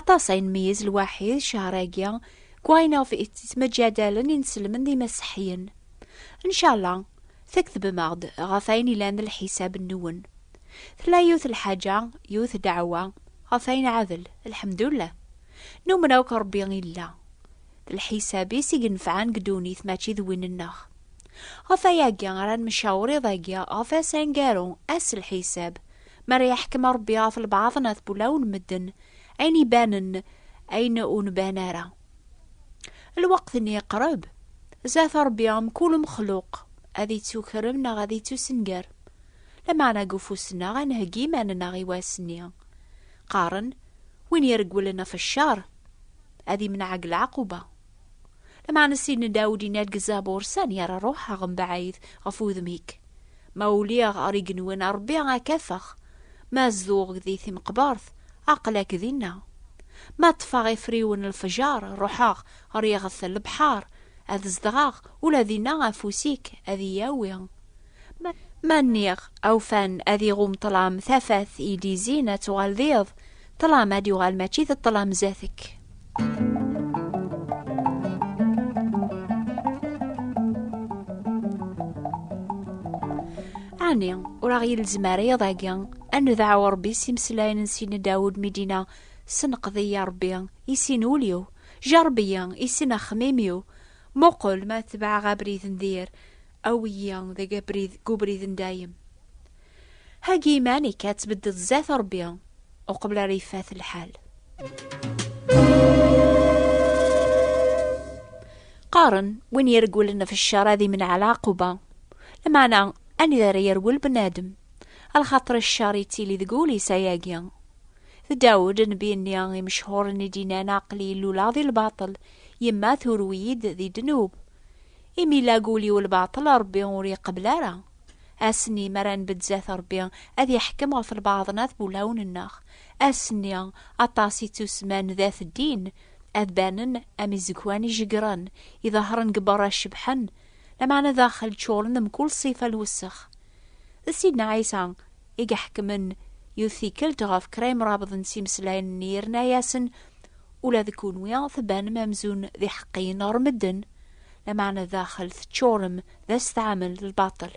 Aṭas ay nmeyyez lwaḥid ccehr-agi deg wayen iɣef yettmejjadalen inselmen d imaseḥyen. Ncala tkettbem-aɣ-d ɣef wayen yellan d lḥisab-nwen. Tella yiwet lḥaǧa, yiwet ddeɛwa, ɣef wayen iɛadel, lḥemdullah, numen akk Rebbi yella. D lḥisab-is i yenefɛen deg ddunit mačči d win-nneɣ. Ɣef wayagi ara nemcawer iḍ-agi ɣef ass aneggaru, ass lḥisab, Mi ara yeḥkem Ṛebbi ɣef lbaɛḍ neɣ tbulaw n medden, ayen ibanen, ayen ur nban ara. Lweqt-nni iqreb, zdat Ṛebbi mkul umexluq ad ittukrem neɣ ad ittusenger. Lameɛna deg ufus-nneɣ ad nheggi iman-nneɣ i wass-nni. Qqaren, Win iregglen ɣef cceṛ, ad imneɛ deg lɛaquba. Lameɛna Sidna Dawed yenna-d deg Zabur, Sani ara ruḥeɣ mebɛid ɣef wudem-ik? Ma uliɣ ɣer igenwan, a Ṛebbi, ad k-afeɣ, ma zedɣeɣ di timeqbert, aql-ak dinna. Ma ṭṭfeɣ ifriwen n lefjer, ruḥeɣ ɣer yiɣet n lebḥeṛ, ad zedɣeɣ, ula dinna afus-ik ad iyi-yawi. Ma nniɣ awfan ad iɣum ṭṭlam tafat i d-izin ad tuɣal d iḍ, ṭṭlam ad yuɣal mačči d ṭṭlam zdat-k. Ɛni ur aɣ-yelzem ara iḍ-agi ad nedɛu Rebbi s imeslayen n Sidna Dawed mi d-inna, Senqed-iyi a Rebbi, i sin ul-iw, jerreb-iyi, i sin axxmim-iw, muqel ma tebɛeɣ abrid n dir, Awi-yi deg abrid, deg ubrid n dayem. Heggi iman-ik ad tbedded zzat Rebbi uqbel ara yeffat lḥal. Qqaren win yergulen ɣef ccer ad imneɛ lɛaquba. Lmeɛna anida ara yerwel bnadem? Alxaṭer ccer yettili deg wul-is ayagi. D Dawed nnbi-nni imechhuren i d-yennan aql-i illuleɣ di lbaṭel, yemma turew-iyi-d di ddnub. Imi lagul-iw lbaṭel Ṛebbi ur iqebbel ara. Ass-nni mi ara nbedd zdat Ṛebbi, ad iḥkem ɣef lbaɛḍ n at wulawen-nneɣ. Ass-nni, aṭas i ttusemman d at ddin, ad banen am izegwan ijeggren, iḍehṛen deg beṛṛa cebḥen, lameɛna daxel ččuṛen mkul ṣṣifa n lwessex. D Sidna Ɛisa i iḥekmen yiwet tikkelt ɣef kra imrabeḍ n timeslayen-nni yerna-asen ula d kunwi tbanem amzun d iḥeqqiyen ɣer medden, lameɛna daxel teččurem d asetɛamen d lbaṭel.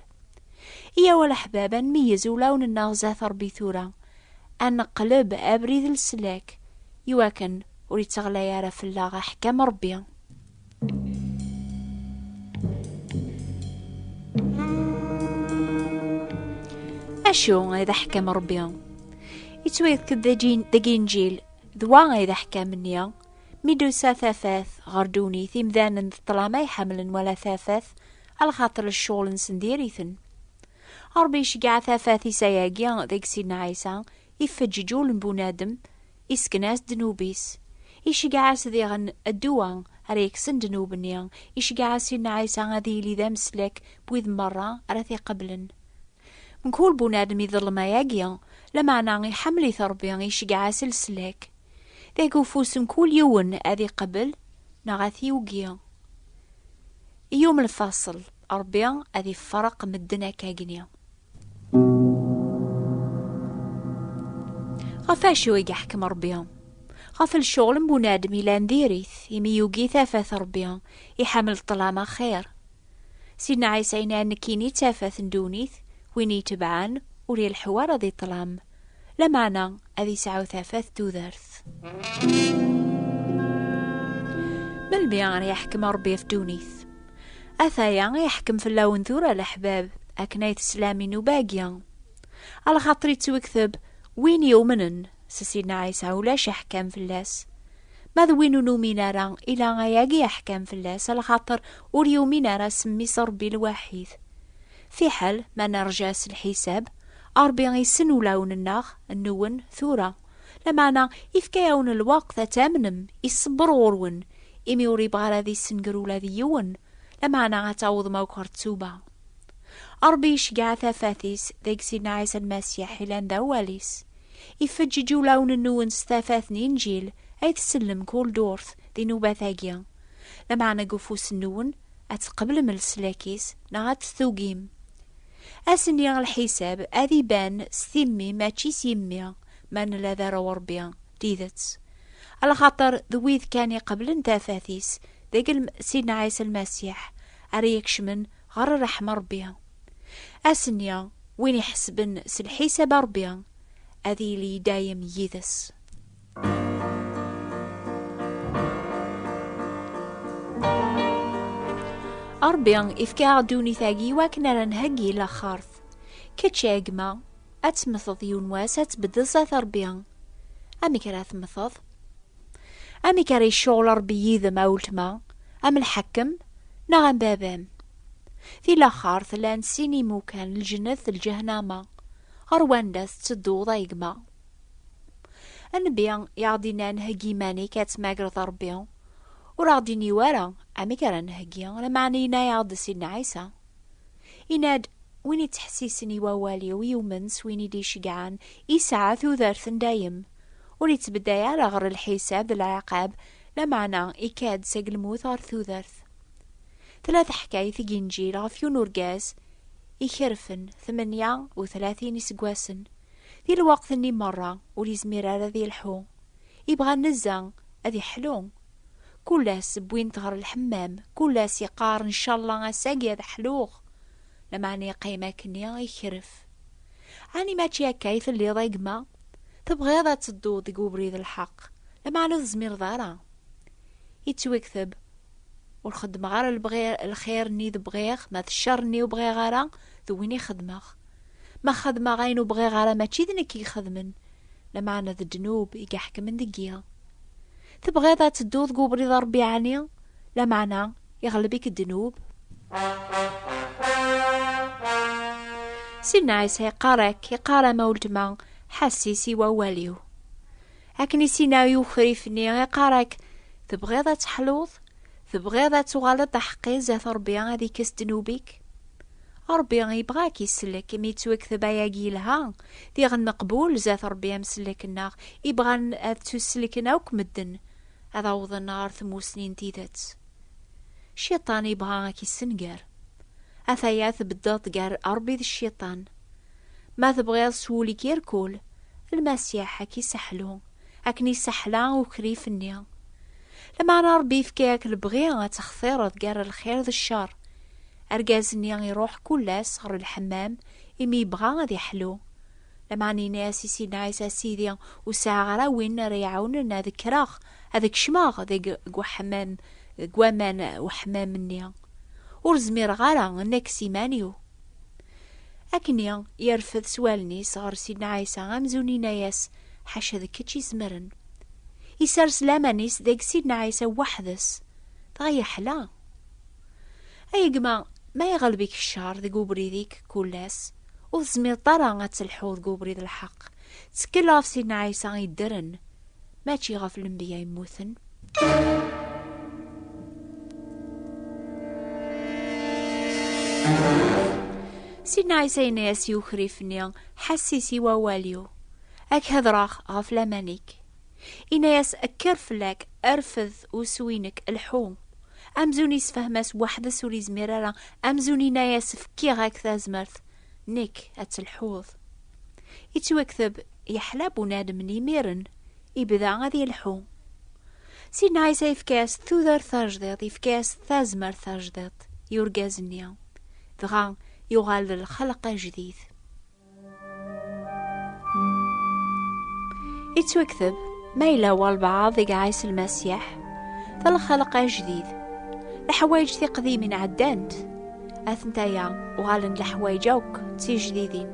Iyyaw a leḥbab ad nmeyyez ulawen-nneɣ zdat Rebbi tura, ad neqleb abrid n leslak, iwakken ur itteɣlay ara fell-aɣ aḥkam n Rebbi. acu ay d aḥkam Rebbi yettwayefk-d deg injil d wa ay d aḥkam-nni mi d-tusa tafat ɣer ddunit imdanen d ṭṭlam ay ḥemmlen wala tafat alxaṭer cceɣl-nsen diri-ten Rebbi iceggeɛ tafat isayagi deg Sidna Ɛisa ifeǧǧeǧ ul n bunadem Isken-as ddnub-is. Iceggeɛ-as diɣen ddwa ara yekksen ddnub-nni. Iceggeɛ-as Sidna Ɛisa ad yili d ameslak n wid merra ara t-iqeblen. Mkul bunadem iḍellem ayagi, lameɛna iḥemmel-it Rebbi, iceggeɛ-as leslak. Deg ufus mkul yiwen ad iqebbel neɣ ad t-yugi. I yum lfaṣel, Rebbi ad ifreq medden akkagni. Ɣef acu i yeḥkem Rebbi? Ɣef lecɣel n bunadem yellan diri-t, imi yugi tafat Rebbi, iḥemmel ṭṭlam axir. Sidna Ɛisa yenna nekkini d tafat n ddunit, win itebɛen ur ileḥḥu ara di ṭṭlam. Lameɛna ad yesɛu tafat tudert. Melmi ara yeḥkem Ṛebbi ɣef ddunit? Ataya iḥkem fell-awen tura leḥbab, akken ay teslam i nnuba-agi. Alxaṭer yettwekteb, Win yumnen s Sidna Ɛisa ulac aḥkam fell-as. Ma d win ur numin ara, ila ayagi aḥkam fell-as, alxaṭer ur yumin ara s mmi-s Ṛebbi lwaḥid. Fiḥel ma nerǧa s lḥisab, Ṛebbi issen ulawen-nneɣ, nwen, tura. Lameɛna, ifka-yawen lweqt ad tamnem, iṣebber ɣur-wen, imi ur ibɣi ara ad issenger ula d yiwen, lameɛna ad tawḍem akk ɣer ttuba. Ṛebbi iceggeɛ tafat-is deg Sidna Ɛisa Lmasiḥ yellan d awal-is. Ifeǧǧeǧ ulawen-nwen s tafat n Inǧil ay tsellem kul durt di nnubat-agi, lameɛna deg ufus-nwen ad tqeblem leslak-is neɣ ad t-tugim. Ass-nni lḥisab ad iban s timmi mačči s yimmi, ma nella d arraw Ṛebbi n tidet. Lxaṭer d wid kan iqeblen tafat-is deg Sidna Ɛisa Lmasiḥ ara ikecmen ɣer ṛṛeḥma n Ṛebbi. Ass-nni, win iḥesben s lḥisab n Ṛebbi ad yili i dayem yid-s. Ṛebbi ifka-aɣ ddunit-agi wakken ara nheggi laxert. Kečč a gma, ad temmteḍ yiwen wass ad tbeddel zat Ṛebbi. Amek ara temmteḍ? Amek ara yecɣel Ṛebbi yid-m a weltma, am lḥakem neɣ am baba-m? Di laxert llan sin imukan, lǧennet d lǧahnama. Ɣer wanda tettedduḍ a gma? Nnbi i aɣ-d-innan heggi iman-ik ad tmagreḍ Rebbi, ur aɣ-d-inni wara amek ara nheggi, lameɛna yenna-aɣ-d Sidna Ɛisa, yenna-d, Win ittḥessisen i wawal-iw, yumen s win i d-iceggɛen, yesɛa tudert n dayem, ur ittbeddey ara ɣer lḥisab d lɛiqab, lameɛna ikka-d seg lmut ɣer tudert. Tella teḥkayt deg Inǧil ɣef yiwen urgaz ikerfen tmenya u tlatin iseggasen, Di lweqt-nni merra ur yezmir ara ad yelḥu, yebɣa nnezza, ad yeḥlu. Kul ass wwin-t ɣer lḥemmam, kul ass yeqqar ncallah ass-agi ad ḥluɣ, lameɛna yeqqim akkenni yekref. Ɛni mačči akka i telliḍ a gma? Tebɣiḍ ad tedduḍ deg webrid lḥeq, lameɛna ur tezmireḍ ara? Yettwekteb, Ur xeddmeɣ ara lxir-nni d bɣiɣ, ma d ccer-nni ur bɣiɣ ara, d win i xeddmeɣ. Ma xedmeɣ ayen ur bɣiɣ ara mačči d nekk i ixedmen, lameɛna d ddnub i iḥekmen deg-i. Tebɣiḍ ad tedduḍ deg ubrid n Ṛebbi ɛni, lameɛna iɣleb-ik ddnub? Sidna Ɛisa iqqar-ak, iqqar-am a weltma, ḥessis i wawal-iw. Akken i s-inna i ukrif-nni, iqqar-ak, Tebɣiḍ ad teḥluḍ? Tebɣiḍ ad tuɣaleḍ d aḥeqqi zdat Ṛebbi, ad ikkes ddnub-ik? Ṛebbi yebɣa a k-isellek, imi yettwekteb ayagi yelha, diɣen meqbul zdat Ṛebbi am sellek-nneɣ, ibɣan ad ttuselken akk medden, ad awḍen ɣer tmussni n tidet. Cciṭan yebɣa a k-issenger. Ataya tbeddeḍ-d gar Ṛebbi d cciṭan. Ma tebɣiḍ s wul-ik irkul, Lmasiḥ a k-iseḥlu. akken yesseḥla ukrif-nni. Lameɛna Ṛebbi yefka-ak lebɣi ad textireḍ gar lxir d cceṛ. Argaz-nni iṛuḥ kul ass ɣer lḥemmam imi yebɣa ad iḥlu. Lameɛna yenna-as i Sidna Ɛisa, Sidi, ur sɛiɣ ara win ara yi-iɛawnen ad kkreɣ ad kecmeɣ deg weḥmam, deg waman n weḥmam-nni. Ur zmireɣ ara, nekk s iman-iw. Akkenni yerfed s wallen-is ɣer Sidna Ɛisa amzun inna-yas, Ḥaca d kečč izemren. Isers laman-is deg Sidna Ɛisa weḥd-s, dɣa yeḥla. Ay gma, ma iɣelb-ik ccer deg ubrid-ik kul ass, ur tezmireḍ ara ad telḥuḍ deg ubrid lḥeqq, ttekkel ɣef Sidna Ɛisa iddren, mačči ɣef lembiya yemmuten. Sidna Ɛisa yenna-as i ukrif-nni, ḥassis i wawal-iw, ad k-hedreɣ ɣef laman-ik. Yenna-as, kker fell-ak, rfed usu-inek, lḥu. Amzun yessefhem-as weḥd-s ur yezmir ara, amzun yenna-as fkiɣ-ak tazmert, nek ad telḥuḍ. Ittwakteb yeḥla bunadem n imiren, ibda ad yelḥu. Sidna Ɛisa yefka-as tudert tajdiḍt, yefka-as tazmert tajdiḍt i urgaz-nni, dɣa yuɣal d lxelq ajdid. Ittwakteb ma yella walbaɛḍ i iɛis lmasiḥ d lxelq ajdid leḥwayeǧ tiqdimin ɛeddant Atentaya uɣalen leḥwayeǧ akk d tijdidin.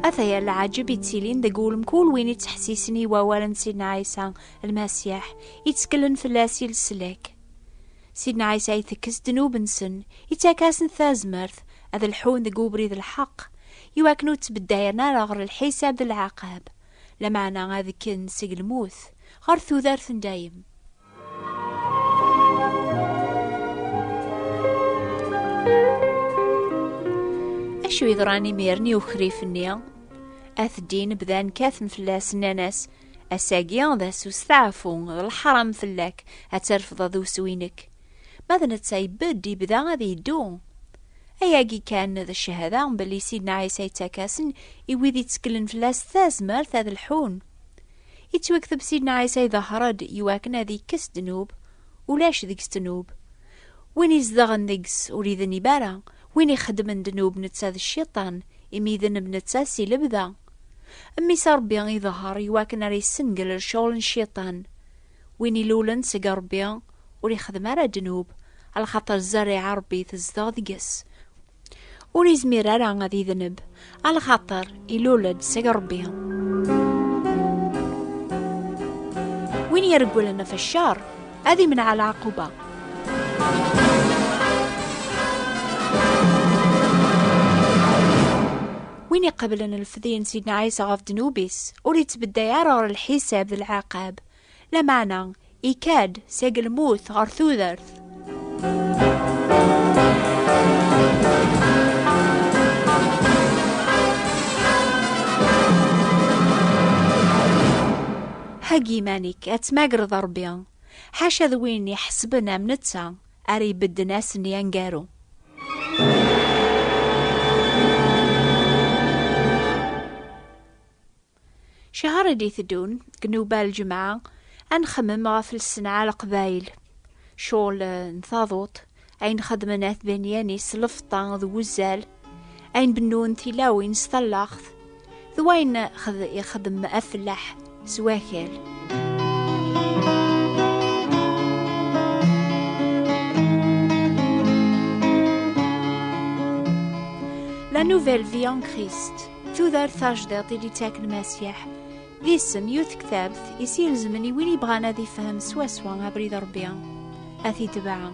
Ataya leɛǧeb yettilin deg wul mkul win yettḥessisen i wawal n Sidna Ɛisa lmasiḥ, yettkellen fell-as i leslak. Sidna Ɛisa itekkes ddnub-nsen, ittak-asen tazmert ad lḥun deg ubrid lḥeqq, iwakken ur ttbeddayren ara ɣer lḥisab d lɛaqab, Lameɛna ad kken seg lmut ɣer tudert n dayem. Acu yeḍran imiren i ukrif-nni? At ddin bdan kkaten fell-as, nnan-as, Ass-agi d ass usteɛfu, d leḥram fell-ak ad terfdeḍ ussu-inek. Ma d netta ibedd, ibda ad yeddu. Ayagi kan d cchada belli Sidna Ɛisa yettak-asen i wid itteklen fell-as tazmert ad lḥun. Ittwakteb Sidna Ɛisa iḍehher-d i wakken ad ikkes ddnub, ulac deg-s ddnub. Win izedɣen deg-s ur idnib ara, win ixeddmen ddnub netta d cciṭan, imi idneb netta si lebda. Mmi-s Rebbi iḍehher i wakken ara yessengel ccɣel n cciṭan. Win ilulen seg Ṛebbi ur ixdem ara ddnub, ala xaṭer zzarriɛa Ṛebbi tezdeɣ deg-s. Ur izmir ara ad idneb, ala xaṭer ilul-d seg Ṛebbi. Win iregglen ɣef cceṛ, ad imneɛ lɛaquba. Win iqeblen lefdi n Sidna Ɛisa ɣef ddnub-is, ur ittbedday ara ɣer lḥisab d lɛaqab, lameɛna ikad seg lmut ɣer tudert. Heggi iman-ik, ad tmagreḍ Rebbi, ḥaca d win iḥesben am netta. ara ibedden ass-nni aneggaru. Cihar i d-iteddun, deg newbal lǧemɛa, ad nxemmem ɣef lsenɛa leqbayel. Cɣel eh, n taḍut, ayen xedmen at Benyani s lefṭa d wuzzal, ayen bennun tilawin s tallaɣt, d wayen ixdem afellaḥ s wakal. La Nouvelle Vie en Christ, tudert tajdiḍt i d-ittaken Masiḥ, d isem yu tektabt i s-ilezmen i win ibɣan ad ifhem swaswa abrid Rebbi, ad t-itbeɛ.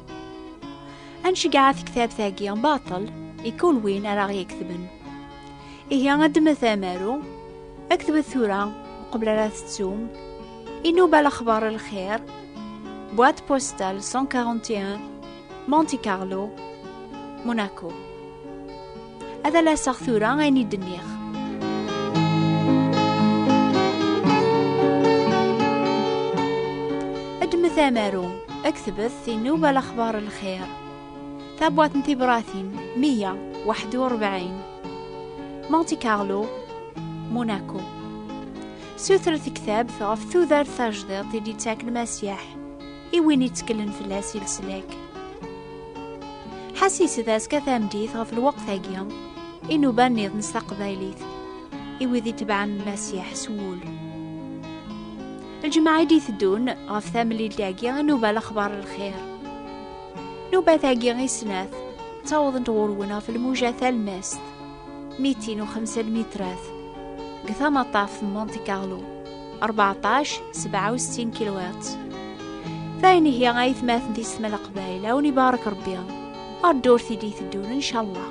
Ad nceggeɛ tektabt-agi baṭel i kul win ara ɣ-yeketben. Ihi ad d-met amaru, ad k-tbet tura, uqbel ara tettum, inuba lexbar lxir, boîte postale 141, Monte Carlo, Monaco. Ad alaseɣ tura ayen i d-nniɣ. Ad d-met amaru, ad k-tbet inuba lexbar lxir, Tabwat n tibratin 141 Monte Carlo, Monaco Suter tektabt ɣef tudert tajdiḍt i d-ittak lmasyaḥ i win itteklen fell-as i leslak. Ḥas yesda ska tamdit ɣef lweqt-agi inuban niḍen s taqbaylit i wid itebɛen lmasyaḥ s wul. Lǧemɛa i d-iteddun ɣef tamlilt-agi inuba lexbar lxir. Nubat-agi i snat, ttawḍent ɣur-wen ɣef lmuja talmast, mitin u xemsa lmitrat, deg tamaṭaf n Monte Carlo, 14-67 kilowat. Tayen ihi ay tmaten tis tmala qbayl, awen ibaṛek Ṛebbi, ar ddurt i d-iteddun, incallah.